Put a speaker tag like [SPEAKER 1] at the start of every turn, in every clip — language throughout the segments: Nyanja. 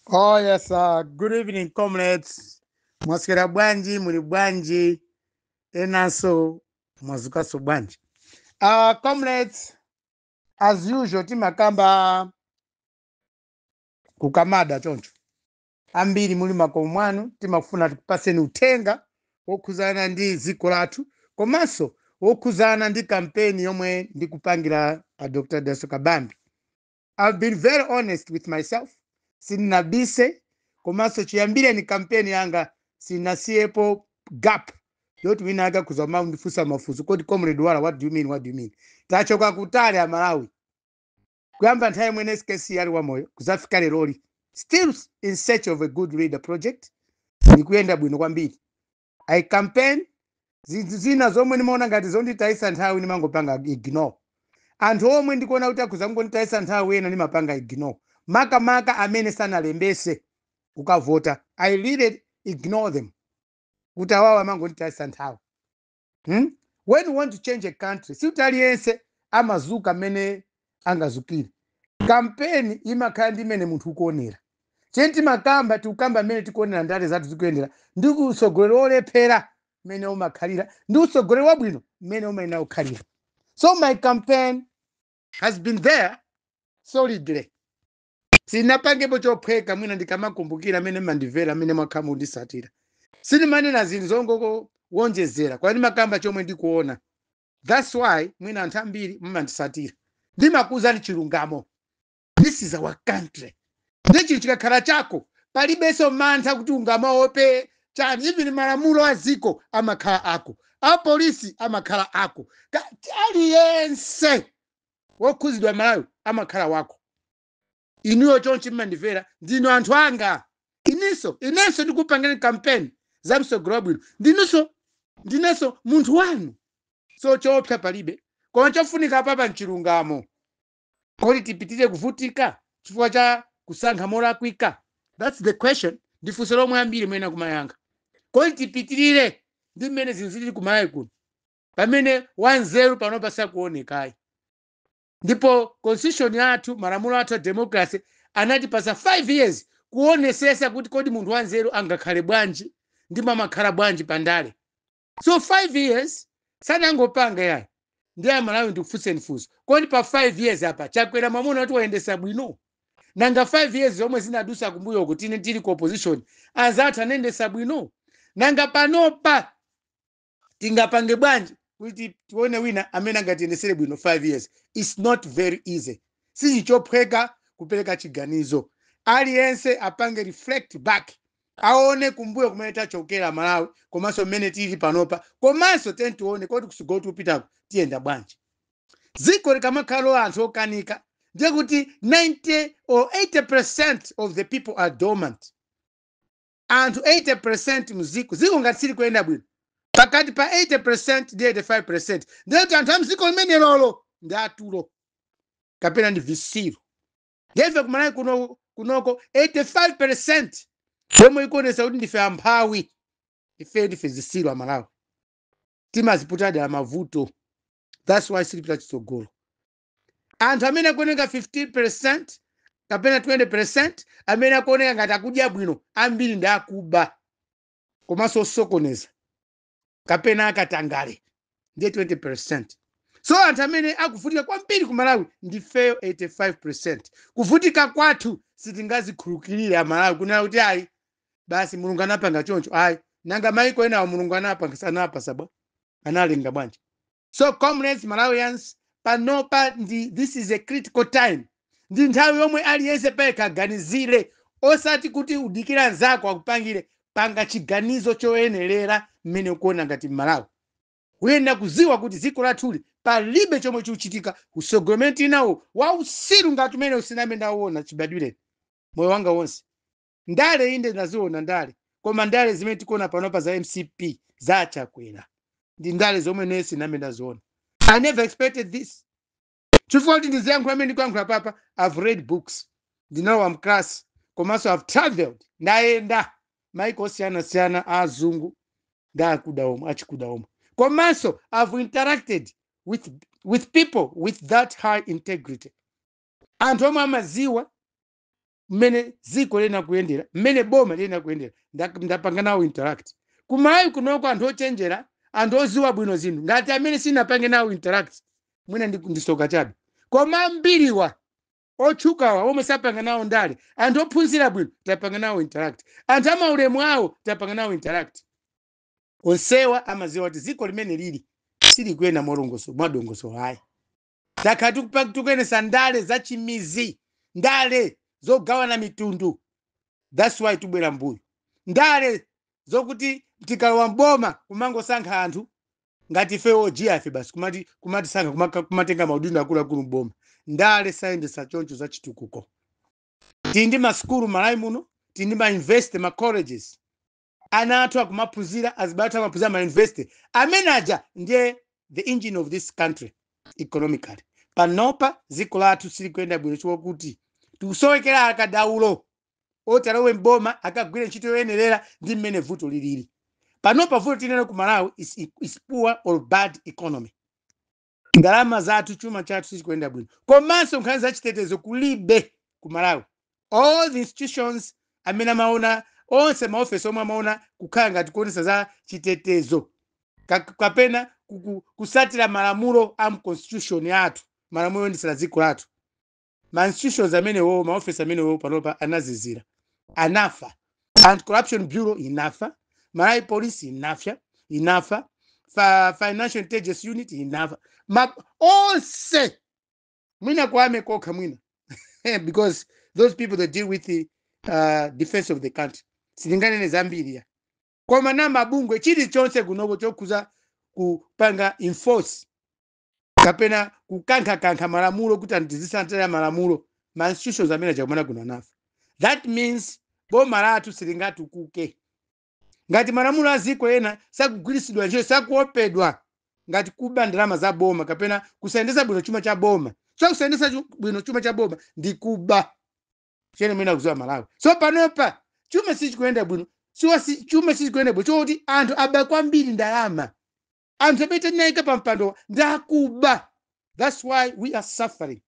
[SPEAKER 1] Oh yes, uh, good evening comrades. Mwaswera bwanji, muli bwanji, enanso mwazukaso bwanji. Uh, comrades, as usual timakamba kukamada choncho. Ambiri muli makomo mwanu timafuna tikupaseni uthenga wokhuzana ndi dziko lathu komanso wokhuzana ndi kampeni yomwe ndikupangira a Dr. Dalitso Kabambe. I've been very honest with myself sindinabise komanso chiyambireni kampeni yanga sinasiyepo gap yoti wina ake akhoza kumandifunsa mafunso kodi comrade wala what do you mean what do you mean tachoka kutali amalawi kuyamba nthawi imene skc ali wamoyo kuzafika leroli still in search of a good leader project ikuyenda bwino kwambiri i campaign zinthu zina zomwe ndimaona ngati zonditayisa nthawi ndimangopanga ignore anthu omwe ndikuona kuti akhoza kungonditayisa nthawi ena ndimapanga ignore makamaka amene sanalembese kukavota i really ignore them kuti awawa amangonditayisa nthawi hmm? when you want to change a country siuti aliyense amazuka mmene angazukire kampeni imakhala ndi mmene munthu ukuonera cheni timakamba tikukamba mmene tikuonera ndale zathu zikuyendera ndi utsogoleri wolephera mmene umakhalira ndi utsogoleri wabwino mmene umayenera kukhalira so my campaign has been there solidly sinapangepo chophweka mwina ndikamakumbukira mmene mumandimvera mmene mwakhala mukundisatira sindimanena zinthu zongowonjezera kwa ndimakamba chomwe ndikuona Thats why mwina anthu ambiri mumandisatira ndimakuuzani chilungamo this is our country ndi chinthu chikakhala chako palibenso mantha kuti ungamaope chani even malamulo a dziko amakhala ako apolisi amakhala ako Ka- aliyense wokhuzidwa malawi amakhala wako inuyo chonchi mumandimvera ndinu anthu anga inenso inenso ndikupangira kampeni za msogolo wabwino ndinunso ndinenso munthu wanu so choopsa palibe koma chofunika papa mchilungamo kodi tipitirire kuvutika chifukwa cha kusankha molakwika thats the question ndi funso lomwe ambiri muyenera kumayankha kodi tipitirire ndi mmene zinthu zili kumalawi kuno pamene wanzeru panopa sakuonekayi ndipo constitution yathu malamulo athu a democracy anatipasa 5 years kuonesesa kuti kodi munthu wanzeru angakhale bwanji ndipo amakhala bwanji pandale so 5 years sanangopanga yayi ndiye amalawi ndikufunseni funso kodi pa 5 years apa Chakwera mwamuona kuti wayendesa bwino nanga 5 years zomwe zinadusa kumbuyoku tinali ku opposition anzathu anayendesa bwino nanga panopa tingapange bwanji kuti tione wina amene angatiyendesere bwino 5 years its not very easy sichinthu chophweka kupereka chiganizo aliyense apange reflect back aone kumbuyo kumene tachokera malawi komanso mmene tili panopa komanso tiyeni tione kodi kutsogolo tikupitako tiyenda bwanji dziko likamakhala anthu okanika ndiye kuti 90 or 80 percent of the people are dormant anthu 80% mziko ziko ngati silikuyenda bwino pakati pa 80% ndi 85% ndiye kuti anthu a mziko limenelolo ndi atulo kapena ndi zisiru ndiye kumalawi kuno kunoko 85% yomwe ikuonesa kuti ndife amphawi ife ndife zisiru amalawi timaziputa dala mavuto that's why silipita kutsogolo anthu amene akuoneka 15 percent kapena 20 percent amene akuoneka ngati akudya bwino ambiri ndi akuba komanso osokoneza kapena akatangale ndiye 20 percent so anthu amene akuvutika kwambiri ku malawi ndifeyo 85 percent kuvutika kwathu sitingazikhulukirire amalawi kunena kuti ayi basi mulungu anapanga choncho ayi nanga maiko enawo mulungu anapanga anapasa bwa analenga bwanji So comrades, Malawians, panopa ndi this is a critical time. Ndi nthawi yomwe aliyense payekha aganizire osati kuti udikire mnzako akupangire panga chiganizo choyenerera mmene ukuona ngati Mmalawi. Uyenera kudziwa kuti dziko lathuli palibe chomwe chikuchitika usogoleri nawo wausiru ngati umene sinambe ndawuona chibadwire moyo wanga wonse. ndale inde ndaziona ndale koma ndale zimene tikuona panopa za mcp za achakwera ndi ndale zomwe ine sinambe ndaziona i never expected this chifukwa kuti ndiziyankhula mmene ndikuyankhula apapa i've read books ndinalowa mklasi komanso i've traveled ndayenda maiko osiyanasiyana a azungu ndi akuda omwe achikuda omwe komanso i've interacted with, with people with that high integrity anthu omwe amaziwa mmene dziko liyenera kuyendera mmene boma liyenera kuyendera nda- ndapanga nawo interact kumalawi kunoko anthu ochenjera anthu oziwa bwino zinthu ngati amene sinapange nawo interact mwina ndi- ndisoka chabe koma ambiriwa otchukawa omwe sapanga nawo ndale anthu ophunzira bwino tapanga nawo interact anthu amaulemu awo tapanga nawo interact onsewa amaziwa kuti dziko mmene lili silikuyenda molongoso mwadongoso ayi takhala tikupa- tikuyendesa ndale za chimizi ndale zogawana mitundu thats why tibwera mbuyo ndale zokuti tikalowa mboma kumangosankha anthu ngati ife ojiyafe basi kumati kumatisankha kumaka- kumatenga maudindo akuluakulu mboma ndale sayendesa choncho za chitukuko tili ndi masukulu malawi muno tili ndi mauniversity macolleges ana athu akumaphunzira azibale athu amaphunzira ma university amene aja ndiye the engine of this country economically panopa dziko lathu silikuyenda bwino chifukwa kuti tikusowekera akadaulo oti alowe mboma akagwire ntchito yoyenerera ndi mmene vuto lilili panopa vuto tili nalo ku malawi is, is poor or bad economy ndalama zathu chuma chathu sichikuyenda bwino komanso nkhani za chitetezo kulibe ku malawi all the institutions amene amaona onse maofesi omwe amaona kukhala ngati kuonesa za chitetezo ka- kapena kuku- kutsatira malamulo a mconstitution yathu malamulo oyendetsera dziko lathu ma institutions amenewo ma office amenewo panopa anazizira anafa anti corruption bureau inafa malawi police inafa inafa fa, financial intelligence unit inafa ma onse mwina ku army kokha mwina because those people that deal with the uh, defense of the country sindinganene zambiri ya koma ena mabungwe chilichonse kunoko chokhuza kupanga enforce kapena kukankhakankha malamulo kuti anthu tizitsatira malamulo ma institutions amene aja kumalawi kuno anafa that means boma lathu silingatukuke ngati malamulo a dziko ena sakugwiritsidwa ntchito sakuopedwa ngati kuba ndalama za boma kapena kusayendesa bwino chuma cha boma so kusayendesa chu- bwino chuma cha boma ndi kuba chimene muyenera kudziwa amalawi so panopa chuma sichikuyenda bwino siwa si, chuma sichikuyenda bwino chifukwa choti anthu aba kwambiri ndalama anthu amene tinaika pa mpando ndi akuba thats why we are suffering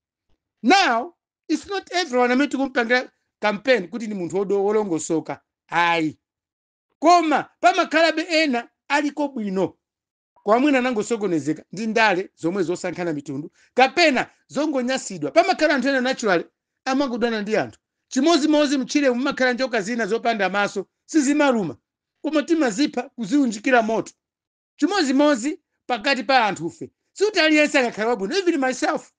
[SPEAKER 1] now its not everyone amene tikupangira campaign kuti ndi munthu wodo- wolongosoka ayi koma pamakhalabe ena aliko bwino koma mwina anangosokonezeka ndi ndale zomwe zosankhana mitundu kapena zongonyansidwa pamakhala anthu ena naturally amangodana ndi anthu chimodzimodzi mtchire mumakhala njoka zina zopanda maso sizimaluma koma timazipha kuziunjikira moto chimodzimodzi pakati pa anthufe sikuti aliyense angakhale wabwino even myself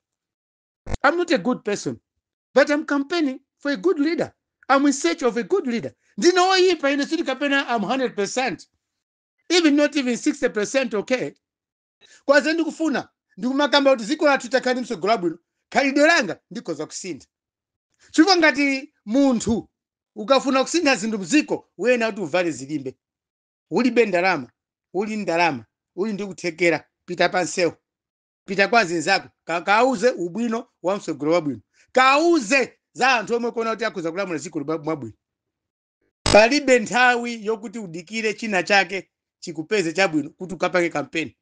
[SPEAKER 1] i'm not a good person but i'm campaigning for a good leader i'm in search of a good leader ndine oyipa ine sikuti kapena i'm 100% even not even 60% okay komabe ndikufuna ndikumakamba kuti dziko lathu litakhala ndi mtsogoleri wabwino khalidwe langa ndikhoza kusintha chifukwa ngati munthu ukafuna kusintha zinthu mdziko uyenera kuti uvale zilimbe Ulibe ndalama? Uli ndalama, uli ndi kuthekera, pita pa nsewu, pita kwa azinzako, kawuze ubwino wa mtsogoleri wabwino, kawuze za anthu omwe ukuona kuti akhoza kulamula dziko lino bwinobwino. Palibe nthawi yokuti udikire china chake chikupeze chabwino kuti ukapange kampeni.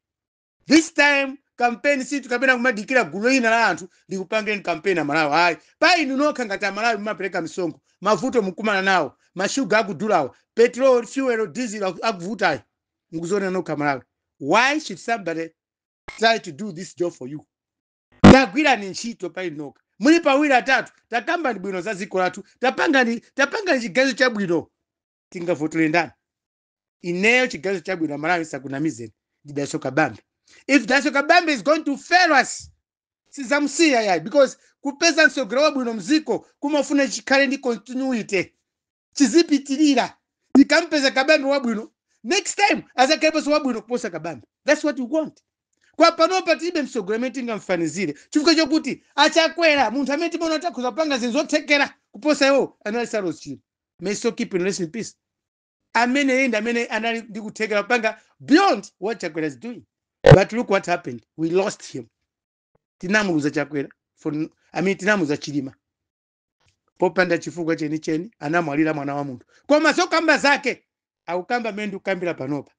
[SPEAKER 1] This time campaign sikuti kapena kumadikira gulu lina la anthu likupangireni campaign aMalawi ayi pa inu nokha ngati aMalawi mumapereka misonkho mavuto mukumana nawo mashuga akudulawo petrol fuel diesel aku- akuvutayo mukuzionera nokha aMalawi why should somebody try to do this job for you tagwirani ntchito pa inu nokha muli pawiri atatu takambani bwino za dziko lathu tapangani tapangani chiganizo chabwino tingavotere ndani ineyo chiganizo chabwino aMalawi ndisakunamizeni ndi Dalitso Kabambe if Dalitso Kabambe is going to fail us sizamusiya yayi because kupeza mtsogoleri wabwino mziko kumafuna chikhale ndi continuity chizipitirira tikampeza Kabambe wabwino next time azakhaleponso wabwino kuposa Kabambe that's what we want kwa panopa tilibe mtsogoleri amene tingamfanizire chifukwa chokuti a Chakwera munthu amene timaona kuti akhoza kupanga zinthu zothekera kuposa iwowo anali Saulos Chilima may his soul keep resting in peace ameneyi ndi amene anali ndi kuthekera kupanga beyond what Chakwera is doing but look what happened we lost him tinamuluza Chakwera for, n- I mean, tinamuluza Chilima popanda chifukwa chenicheni anamwalira mwana wa munthu koma zokamba zake ankakamba mmene ndikukambira panopa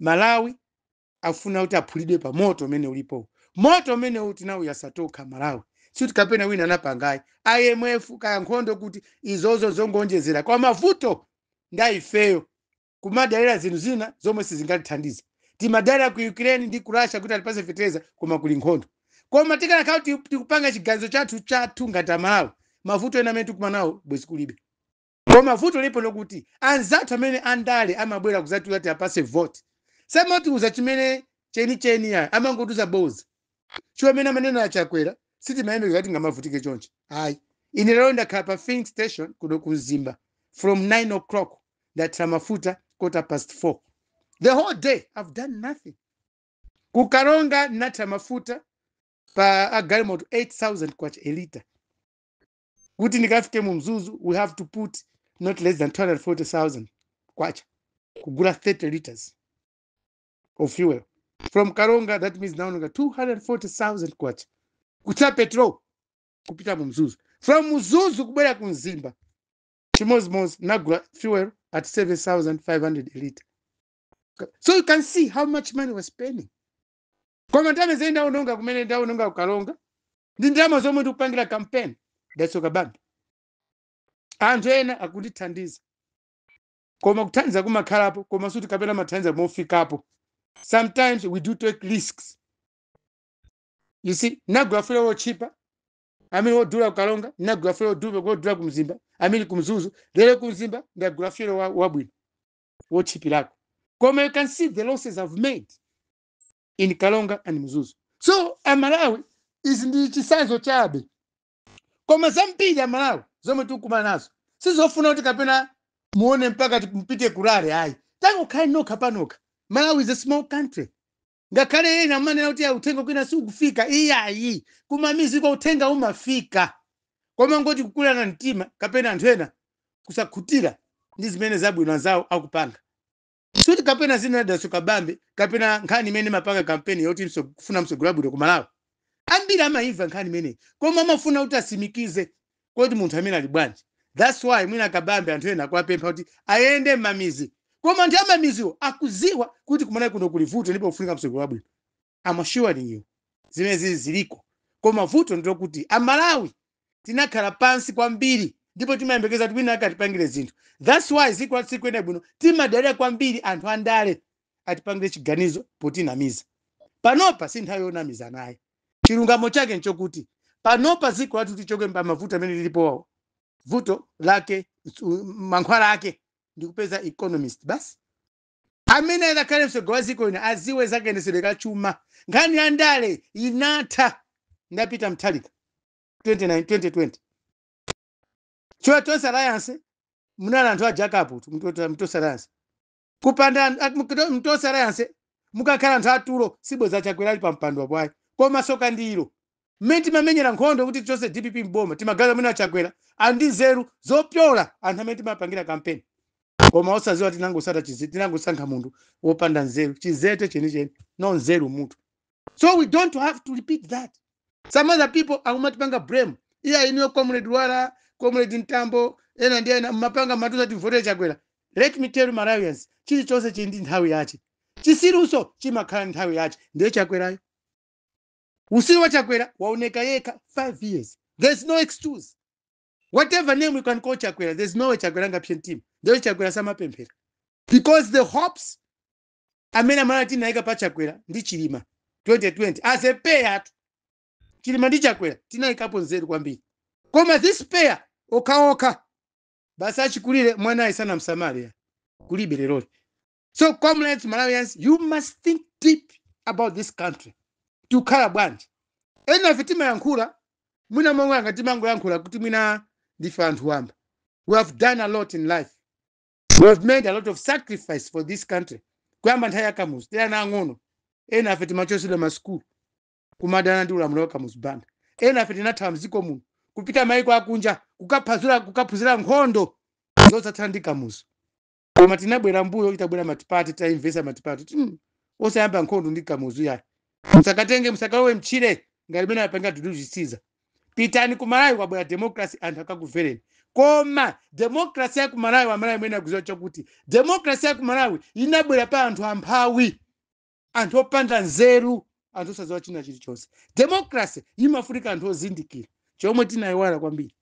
[SPEAKER 1] Malawi afuna kuti aphulidwe pa moto umene ulipowu moto umenewu tinawuyasa tokha aMalawi sikuti kapena wina anapanga ayi IMF kaya nkhondo kuti izozo zongoonjezera koma mavuto ndi a ifeyo kumadalira zinthu zina zomwe sizingatithandize timadalira ku Ukraine ndi ku Russia kuti atipase fetereza koma kuli nkhondo koma tikanakhala kuti tikupanga chiganizo chathu chathu ngati aMalawi mavuto ena amene tikumanawo bwezi kulibe Koma vuto lilipo ndi lokuti anzathu amene andale amabwera kudzatiuza kuti tiwapatse vote samatiuza chimene chenicheni yayi amangotiuza bodza. Chifukwa mmene amanenera a Chakwera sitimayembekeza kuti tingamavutike chonchi ayi. Ine lero ndakhala pa filling station kuno ku Mzimba from 9:00 ndathira mafuta quarter past 4. The whole day I've done nothing. Ku Karonga ndathira mafuta pa a galimoto K8000 a litre. kuti ndikafike mu Mzuzu we have to put not less than 240000 kwacha kugula 30 liters of fuel from Karonga that means ndaononga 240000 kwacha kuthira petrol kupita mu Mzuzu from Mzuzu kubwera ku Mzimba chimozimozi ndagula fuel at 7500 a liter so you can see how much money we're spending koma ndalama zimene ndaononga kumene ndaononga ku Karonga ndi ndalama zomwe ndikupangira kampeni Dalitso Kabambe anthu ena akundithandiza koma kuthandiza kumakhalapo koma sikuti kapena amathandiza mofikapo sometimes we do take risks you see ndagula fuel wotchipa I mean wodula ku Karonga ndagula fuel wodula wodula ku Mzimba I mean ku Mzuzu lero ku Mzimba ndagula fuel wa- wabwino wotchipirako koma you can see the losses I've made in kalonga and mzuzu so amalawi izi ndi chisanzo chabe koma zambiri amalawi zomwe tikukumana nazo sizofuna kuti kapena muone mpaka ti- mpite kurural ayi tangokhale nokha panokha malawi is a small country ngakhale ena amanena kuti "Ah, uthenga kwina sikufika iyayi kumamiziko uthenga umafika koma kungoti kukula mtima kapena anthu ena kusakhutira ndi zimene zabwino anzawo akupanga kuti kapena zinenedwenso kabambe kapena nkhani imene timapanga kampeni yoti mso- kufuna mtsogoleri wabwino ku Malawi. Ambiri amaimva nkhani imeneyi koma amafuna kuti asimikize kodi munthu ameneyu ali bwanji. That's why mwina kabambe anthu ena akuwapempha kuti ayende m'mamizi. Koma anthu amamiziwo akuziwa kuti kuMalawi kuno kuli vuto ndipo kufunika mtsogoleri wabwino. I'm assuring you zimenezi ziliko koma vuto ndilokuti amalawi tinakhala pansi kwambiri ndipo timayembekeza kuti winawake atipangire zinthu thats why ziko lathu sikuyenda bwino timadalira kwambiri anthu andale atipangire chiganizo potinamiza panopa si nthawi yonamizanayi chilungamo chake nchokuti panopa ziko lathu tichoke pa mavuto amene alipowo vuto lake nsu- mankhwala ake ndikupeza economist basi Amene azakhale mtsogoleri wa dziko lino adziwe za kayendetsedwe ka chuma. Nkhani ya ndale inatha ndi a Peter Mutharika 29 2020. Chifukwa Tonse Alliance munali anthu ajakajakatu, mtu- Mtonse Alliance. Kupanda an- ak- mkuto- Mtonse Alliance mukakhala anthu atulo sibweza Chakwera ali pa mpando wapawo ayi. Koma tsoka ndilo Mmene timamenyera nkhondo kuti tichotse dpp m'boma timaganiza mwina Chakwera ali ndi nzeru zopyola anthu amene timapangira kampeni koma osadziwa kuti tinangosata chize tinangosankha munthu wopanda nzeru chizete chenicheni no nzeru m'mutu so we don't have to repeat that some other people akumatipanga blame iyayi inuyo comrade wala comrade mtambo ena ndi ena mmapanga mmatiuza timvotere chakwera let me tell you malawians chilichonse chili ndi nthawi yache chisirunso chimakhala ndi nthawi yache ndiye chakwerayo Usiru wa Chakwera waoneka yekha 5 years. There is no excuse. Whatever name we can call Chakwera, there is no way Chakwera sangapse mtima. Ndiye Chakwera samapemphera. Because the hopes amene amalawi tinayika pa Chakwera ndi Chilima 2020 as a pair tu. Chilima ndi Chakwera tinayikapo nzeru kwambiri. Koma this pair okhaokha basi achikulire mwanayu sanamsamale kulibe leroli. so comrades malawians you must think deep about this country tikukhala bwanji enafe timayankhula mwina mumaona ngati timangoyankhula kuti mwina ndife anthu wamba we have done a lot in life we have made a lot of sacrifice for this country kuyamba nthawi ya kamuzu tili ana ang'ono enafe timachosedwa masukulu kumadana ndi ulamuliro wa kamuzu banda enafe tinathawa mdziko muno kupita maiko akunja kukaphazira kukaphunzira nkhondo zochotsana ndi kamuzu koma tinabwera mbuyo itabwera matipati tinamvetsa matipati kuti "Mm, osayamba nkhondo ndi kamuzu yayi musakatenge musakalowe mtchire ngati mene apangira tuduzisiza pitani ku malawi kwabwera democracy anthu akakuvereni koma democracy ya ku malawi amalawi mwina mukuziwa chakuti democracy ya ku malawi inabwera pa anthu amphawi anthu opanda nzeru anthu osaziwa china chilichonse democracy imafunika anthu ozindikira chomwe tinayiwala kwambiri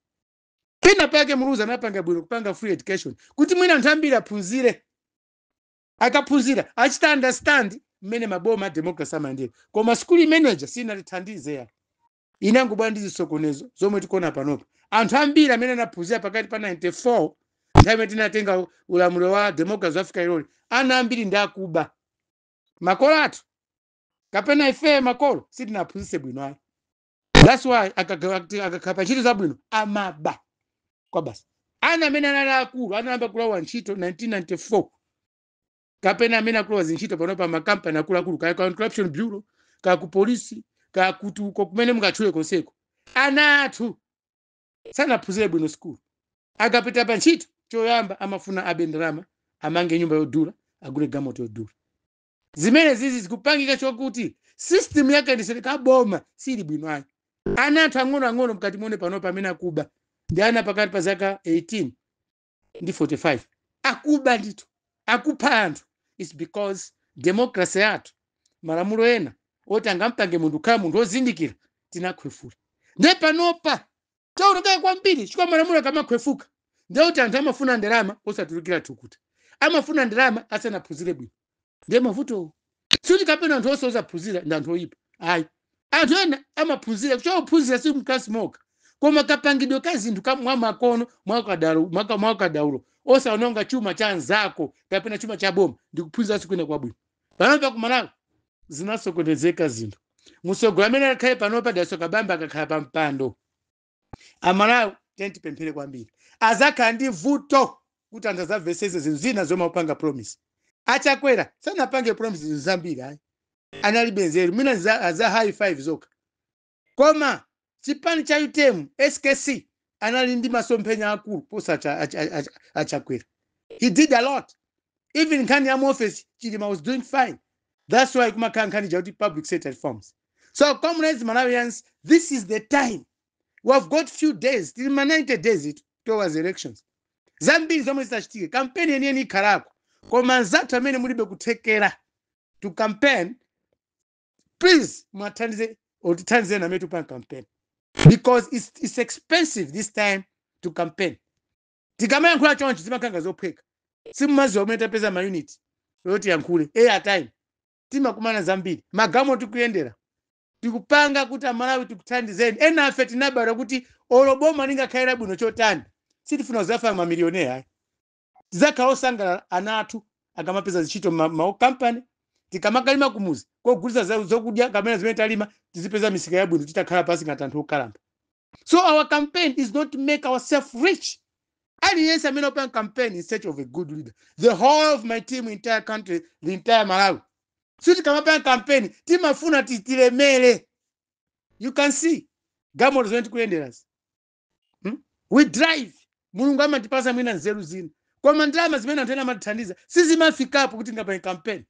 [SPEAKER 1] pena pake muluzi anapanga bwino kupanga free education kuti mwina anthu ambiri aphunzire akaphunzira achita understand mmene maboma a democracy amayendera koma skuli imeneja sinatithandize yayi inangobwera ndi zisokonezo zomwe tikuona panopa anthu ambiri amene anaphunzira pakati pa 94 nthawi imene tinatenga ulamuliro wa democracy kuzafika leroli ana ambiri ndi akuba makolo athu kapena ifeyo makolo sitinaphunzitse bwino ayi that's why akakhala kuti- akakhala pa ntchito zabwino amaba kwa basi ana amene anali akulu anayamba kulowa ntchito 1994 kapena amene akulowa zintchito panopa m'makampani akuluakulu kaya ku corruption bureau kaya ku polisi kaya kuti uko kumene mungatchule konseko ana athu sanaphunzire bwino sikulu akapita pa ntchito choyamba amafuna abe ndalama amange nyumba yodula agule galimoto yodula zimenezizi zikupangika chokuti system ya kayendetsedwe ka boma siili bwino ayi ana athu ang'onoang'ono mukati muone panopa amene akuba ndi ana pakati pa zaka 18 ndi 45 akuba ndithu akupha anthu its because democracy yathu malamulo ena oti angampange munthu kukhala munthu wozindikira tinakhwefula nde panopa Chaonekera kwambiri chifukwa malamulo akamakhwefuka ndiye kuti anthu amafuna ndalama osatulukira thukuta. Amafuna ndalama asanaphunzire bwino. Ndiye mavutowo. Sikuti kapena anthu onse osaphunzira ndi anthu oyipa. Ayi. Anthu ena amaphunzira, chifukwa kuphunzira si m'kalasi mokha. Koma kapangidwe ka zinthu ka mwamakono, mwaukadaulo, mwaka, mwaukadaulo, osawononga chuma cha anzako kapena chuma cha boma ndi kuphunziranso kwina kwabwino. panopa ku malawi zinasokonezeka zinthu mtsogoleri amene akhale panopa Dalitso Kabambe akakhala pa mpando amalawi tiyeni tipemphere kwambiri azakhala ndi vuto kuti anthu azamvesese zinthu zina zomwe akupanga promise a Chakwera sanapange promise zinthu zambiri ayi analibe nzeru mwina za- za high five zokha Koma chipani cha utm, skc anali ndi masomphenya akulu kuposa a Chakwera. He did a lot. Even nkhani ya mu office Chilima was doing fine. That's why kumakhala nkhani ja kuti public sector reforms. So comrades Malawians, this is the time. We have got few days, tili ndi ma 90 days towards elections. Zambiri zomwe zitachitike, kampeni yeniyeni ikhalako. Koma anzathu amene mulibe kuthekera to campaign please mwathandize or tithandize amene tikupanga campaign because it's, it's expensive this time to campaign tikamayankhula chonchi zimakhala ngati zophweka simumadziwa komwe tapeza maunit oti tiyankhule air time timakumana zambiri magalimoto tikuyendera tikupanga kuti amalawi tikuthandizeni ena afe tinabadwa kuti olo boma lingakhalira bwino chotani sitifuna kuzafa mamiliyonera ayi tidzakhala osangalala ana athu akamapeza zintchito makampani tikamakalima kumuzi kogulitsa za- zokudya kapena zimene talima tizipeza misika yabwino titakhala pansi ngati anthu okalamba so our campaign is not to make ourselves rich aliyense amene akupanga campaign in search of a good leader the whole of my team entire country the entire malawi so tikamapanga campaign timafuna ti- tilemere you can see galimoto zimene tikuyenderazi Hmm? we drive mulungu amatipasa mwina nzeru zina koma ndalama zimene anthu ena amatithandiza sizimafikapo kuti ungapange kampeni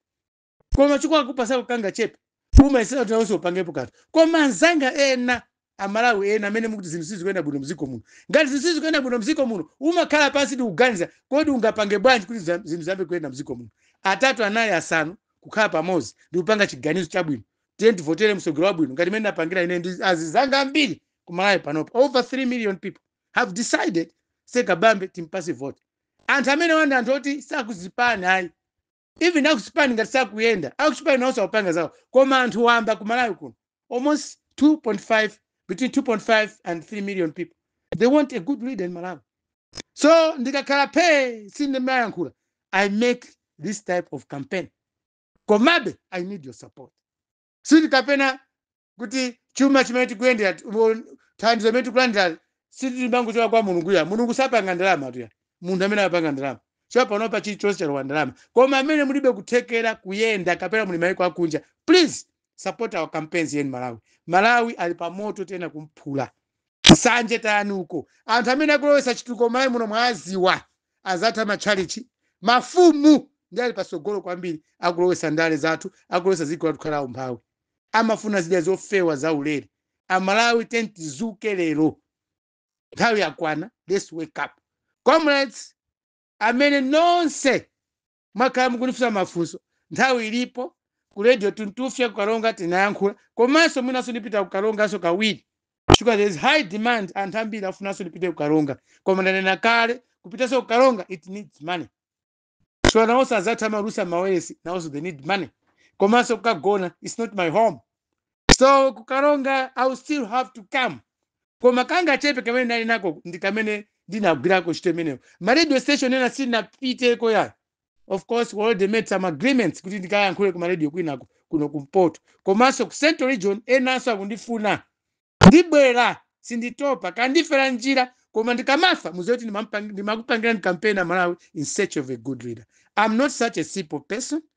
[SPEAKER 1] koma chikakhala akupasa kangachepe umayesetsa kuti nawenso upangepo kanthu koma anzanga ena amalawi ena amene mukuti zinthu sizikuyenda bwino mziko muno ngati zinthu sizikuyenda bwino mziko muno umakhala pansi ndi kuganiza kodi ungapange bwanji kuti za- zinthu ziyambe kuyenda mziko muno atatu anayi asanu kukhala pamodzi ndi kupanga chiganizo chabwino tiye tivotere mtsogoleri wabwino ngati mmene ndapangira ine ndi azizanga ambiri ku malawi panopa over 3 million people have decided say kabambe timpase vote anthu amenewa ndi anthu oti sakuzipani ayi even akuzipani ngati sakuyenda akuzipani nawonso akupanga zawo koma anthu wamba ku malawi kuno almost 2.5 between 2.5 and 3 million people they want a good leader in malawi so ndikakhala phe sindimayankhula i make this type of campaign komabe i need your support sili kapena kuti chuma chimene tikuyendera thandizo limene tikulandira silimangochoka kwa mulungu ya mulungu sapanga ndalama tuya munthu amene apanga ndalama chifukwa panopa chilichonse chalowa ndalama koma amene mulibe kuthekera kuyenda kapena muli mayiko akunja please support our campaigns here in malawi malawi ali pa moto ena umphawi nsanje tayani uko anthu amene akulowesa chitukuko malawi muno mwaziwa azatha matchalitchi, mafumu ndiye ali patsogolo kwambiri akulowetsa ndale zathu, akulowetsa dziko lathu kukhala aumphawi. Amafuna zidya zofewa zaulere. Amalawi tiyeni tizuke lero. Nthawi yakwana, let's wake up. Comrades, amene nonse Mwakhala mukundifunsa mafunso nthawi ilipo ku radio tuntufya ku karonga tinayankhula komanso mwinanso ndipita ku karonganso kawiri chifukwa there is high demand anthu ambiri akufunanso ndipite ku karonga koma ndanena kale kupitanso ku karonga it needs money so nawonso azathu amaulutsa mawayilesi nawonso they need money komanso kukagona its not my home so ku karonga i will still have to come koma kangachepe kamene ndinali nako ndi kamene ndinagwirako ntchito imeneyo ma radio station ena sindinapiteko ya of course we already made some agreements kuti ndikayankhule ku ma radio kwinaku kuno kumpoto komanso ku central region enanso akundifuna ndibwera sinditopa kandifera njira koma ndikamafa muziwe kuti ndimamupang- ndimakupangirani kampeni amalawi in search of a good leader i'm not such a simple person